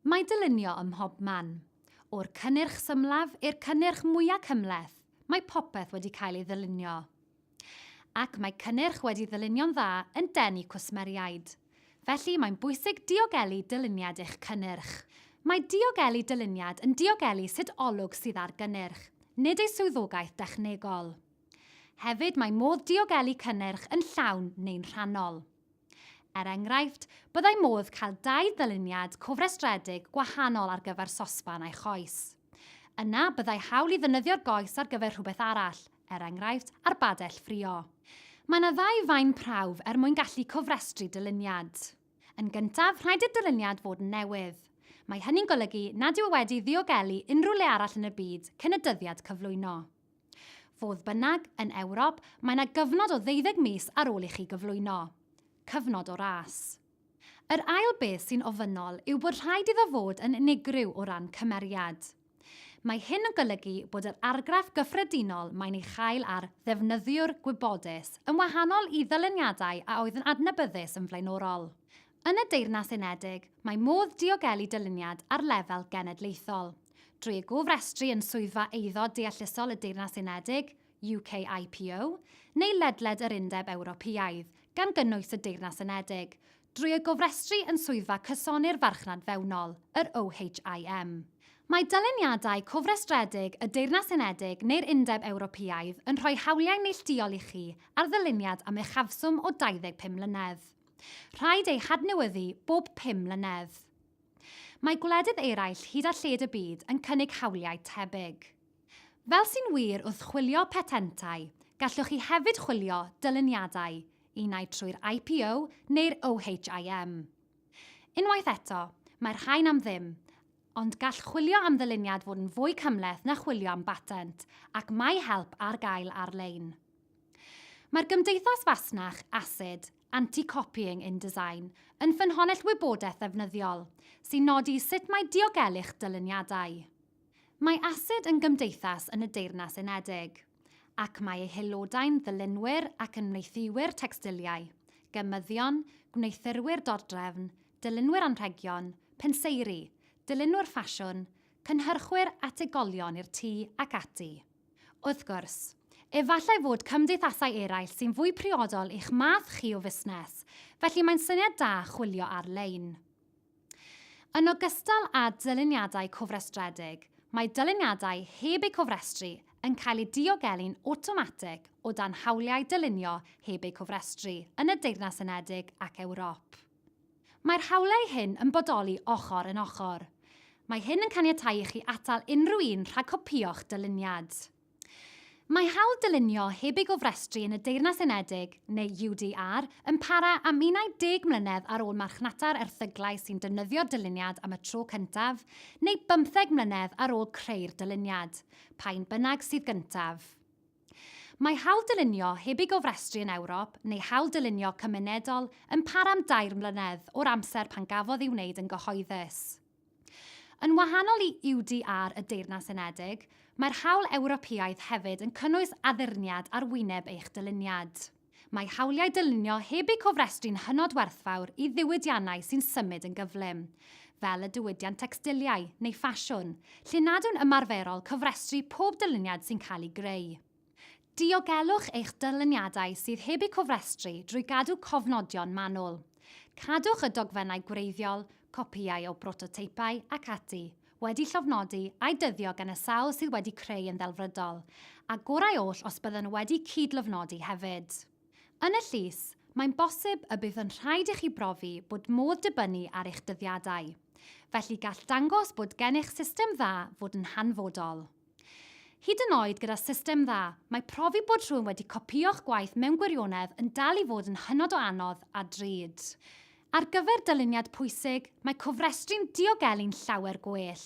Mae dylunio ym mhob man. O'r cynnyrch symlaf i'r cynnyrch mwya' cymhleth, mae popeth wedi cael ei ddylunio. Ac mae cynnyrch wedi ddylunio'n dda yn denu cwsmeriaid. Felly mae'n bwysig diogelu dyluniad eich cynnyrch. Mae diogelu dyluniad yn diogelu sut olwg sydd ar gynnyrch, nid ei swyddogaeth dechnegol. Hefyd mae modd diogelu cynnyrch yn llawn neu'n rhannol. Er enghraifft, byddai modd cael dau ddyluniad cofrestredig gwahanol ar gyfer sosban a'i choes. Yna, byddai hawl i ddynyddio'r goes ar gyfer rhywbeth arall, er enghraifft, arbadell ffrio. Mae yna ddau faen prawf er mwyn gallu cofrestru dyluniad. Yn gyntaf, rhaid i'r dyluniad fod yn newydd. Mae hynny'n golygu nad yw e wedi ddiogelu unrhyw le arall yn y byd cyn y dyddiad cyflwyno. Fodd bynnag, yn Ewrop, mae yna gyfnod o ddeuddeg mis ar ôl i chi gyflwyno. Cyfnod o ras. Yr ail beth sy'n ofynnol yw bod rhaid iddo fod yn unigryw o ran cymeriad. Mae hyn yn golygu bod yr argraff gyffredinol mae'n ei chael ar ddefnyddiwr gwybodus yn wahanol i ddyluniadau a oedd yn adnabyddus yn flaenorol. Yn y Deyrnas Unedig, mae modd diogelu dyluniad ar lefel genedlaethol. Drwy gofrestru yn Swyddfa Eiddo Deallusol y Deyrnas Unedig, UKIPO, neu ledled yr Undeb Ewropeaidd, gan gynnwys y Deyrnas Unedig, drwy y gofrestru yn Swyddfa Cysoni'r Farchnad Fewnol, yr OHIM. Mae dyluniadau cofrestredig y Deyrnas Unedig neu'r Undeb Ewropeaidd yn rhoi hawliau neillduol i chi ar ddyluniad am uchafswm o 25 mlynedd. Rhaid eu hadnewyddu bob pum mlynedd. Mae gwledydd eraill hyd a lled y byd yn cynnig hawliau tebyg. Fel sy'n wir wrth chwilio patentau, gallwch chi hefyd chwilio dyluniadau, unai trwy'r IPO neu'r OHIM. Unwaith eto, mae'r rhain am ddim, ond gall chwilio am ddyluniad fod yn fwy cymhleth na chwilio am batent, ac mae help ar gael ar-lein. Mae'r Gymdeithas Fasnach, ACID, Anti-Copying InDesign yn ffynhonnell wybodaeth ddefnyddiol sy'n nodi sut mae diogelu'ch dyluniadau. Mae ACID yn gymdeithas yn y Deyrnas Unedig, ac mae ei haelodau'n ddylunwyr ac yn mneithiwyr tecstiliau, gemyddion, gwneuthurwyr dordrefn, dylunwyr anrhegion, penseiri, dylunwyr ffasiwn, cynhyrchwyr ategolion i'r tŷ ac ati. Wrth gwrs, efallai fod cymdeithasau eraill sy'n fwy priodol i'ch math chi o fusnes, felly mae'n syniad da chwilio ar-lein. Yn ogystal â dyluniadau cofrestredig, mae dyluniadau heb eu cofrestru yn cael eu diogelu'n awtomatig o dan hawliau dylunio heb eu cofrestru yn y Deyrnas Unedig ac Ewrop. Mae'r hawliau hyn yn bodoli ochr yn ochr. Mae hyn yn caniatáu i chi atal unrhyw un rhag copïo'ch dyluniad. Mae hawl dylunio heb ei gofrestru yn y Deyrnas Unedig, neu UDR, yn para am 11 mlynedd ar ôl marchnata'r erthyglau sy'n defnyddio'r dyluniad am y tro cyntaf, neu bymtheg mlynedd ar ôl creu'r dyluniad, pa un bynnag sydd gyntaf. Mae hawl dylunio heb ei gofrestru yn Ewrop neu hawl dylunio cymunedol yn para am dair mlynedd o'r amser pan gafodd ei wneud yn gyhoeddus. Yn wahanol i UDR y Deyrnas Unedig, mae'r hawl Ewropeaidd hefyd yn cynnwys addurniad ar wyneb eich dyluniad. Mae hawliau dylunio heb eu cofrestru'n hynod werthfawr i ddiwydiannau sy'n symud yn gyflym, fel y diwydiant tecstiliau neu ffasiwn, lle nad yw'n ymarferol cofrestru pob dyluniad sy'n cael ei greu. Diogelwch eich dyluniadau sydd heb eu cofrestru drwy gadw cofnodion manwl. Cadwch y dogfennau gwreiddiol, copïau o brototeipau, ac ati, wedi llofnodi a'i dyddio gan y sawl sydd wedi creu yn ddelfrydol, a gorau oll os bydden nhw wedi cyd-lofnodi hefyd. Yn y llys, mae'n bosib y bydd yn rhaid i chi brofi bod modd dibynnu ar eich dyddiadau. Felly gall dangos bod gennych system dda fod yn hanfodol. Hyd yn oed gyda system dda, mae profi bod rhywun wedi copïo'ch gwaith mewn gwirionedd yn dal i fod yn hynod o anodd a drud. Ar gyfer dyluniad pwysig, mae cofrestru'n diogelu'n llawer gwell.